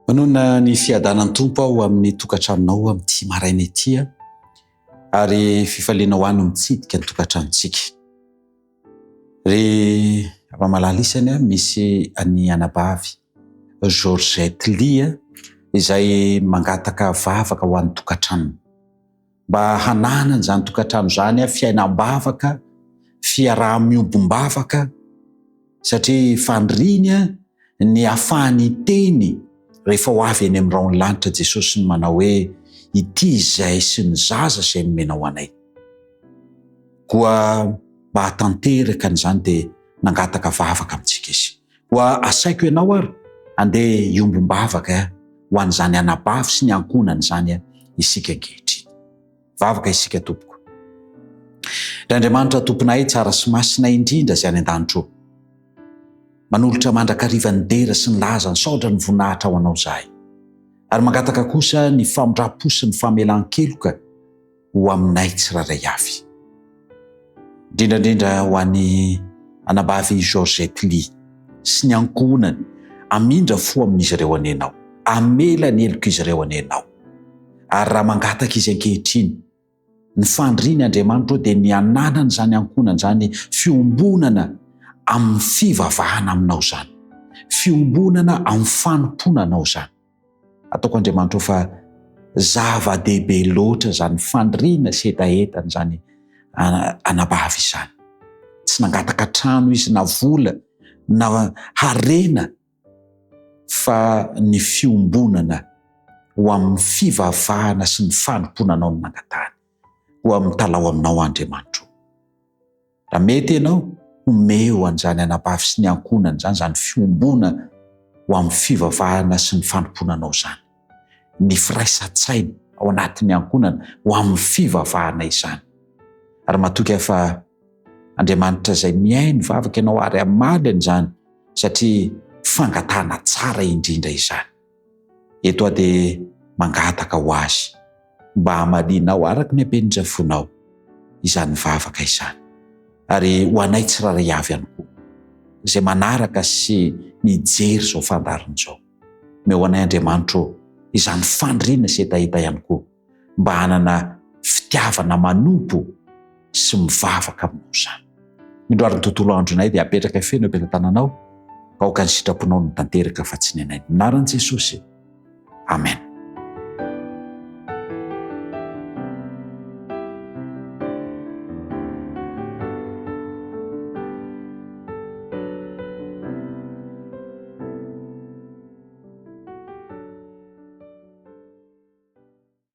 Manona ny fiadanan'ny Tompo aho amin'ny tokantranonao amin'ity maraina ity ary fifaliana ho any mitsidika ny tokantranontsika. Ry Ramamalala isany misy an'i anabavy Georgette Lia izay mangataka vavaka ho an'ny tokantranony. mba hananany izany tokantrano izany fiainam-bavaka, fiaraha-miombom-bavaka, satria faniriany ny hahafahany hiteny rehefa ho avy eny amin'ny rahon'ny lanitra Jesosy ny manao hoe, Ity izay sy ny zaza izay nomenao anay. Koa mba hahatanteraka an'izany dia nangataka vavaka amintsika izy. Koa asaiko ianao ary handeha hiombom-bavaka ho an'izany anabavy sy ny ankohonany izany isika ankehitriny. Vavaka isika, Tompoko. Ry Andriamanitra Tomponay tsara sy masina indrindra izay any an-danitra ô, manolotra mandrakariva ny dera sy ny laza nisaotra ny voninahitra ho Anao izahay, ary mangataka kosa ny famindram-po sy ny famelan-keloka, ho aminay tsirairay avy. Indrindra indrindra ho an'i Anabavy Georgette Lee sy ny ankohonany, hamindra fo amin'izy ireo anie ianao, hamela ny helok'izy ireo anie ianao. Ary raha mangataka izy ankehitriny, ny fandriny Andriamanitra ô dia ny hananan'izany ankohonana izany fiombonana amin'ny fivavahana aminao izany, fiombonana amin'ny fanompoana anao izany. Ataoko Andriamanitra o fa zava-dehibe loatra izany fandriana sy hetahetana izany anabavy izany. Tsy nangataka trano izy na vola na harena fa ny fiombonana ho amin'ny fivavahana sy ny fanompoana anao no nangatahany. Koa mitalaho aminao Andriamanitro o. Raha mety ianao, omeo an'izany anabavy sy ny ankohonany izany, izany fiombona ho amin'ny fivavahana sy ny fanompoana anao izany, ny firaisan-tsaina ao anatin'ny ankohonany ho amin'ny fivavahana izany. Ary matoky aho fa Andriamanitra izay mihaino ny vavaka ianao ary hamaly an'izany satria fangatahana tsara indrindra izany. Eto aho dia mangataka ho Azy mba hamalianao araka ny hampian'izay fonao izany vavaka izany, ary ho anay tsirairay avy ihany koa izay manaraka sy mijery izao fandaharana izao. Omeo anay Andriamanitro izany faniriana sy hetaheta ihany koa. mba hanana fitiavana manompo sy mivavaka aminao izany. Indro ary ny tontolo andronay dia apetraka feno eo am-pelatananao, ka aoka ny sitraponao no tanteraka fa tsy ny anay. Minaran'i Jesosy. Amen.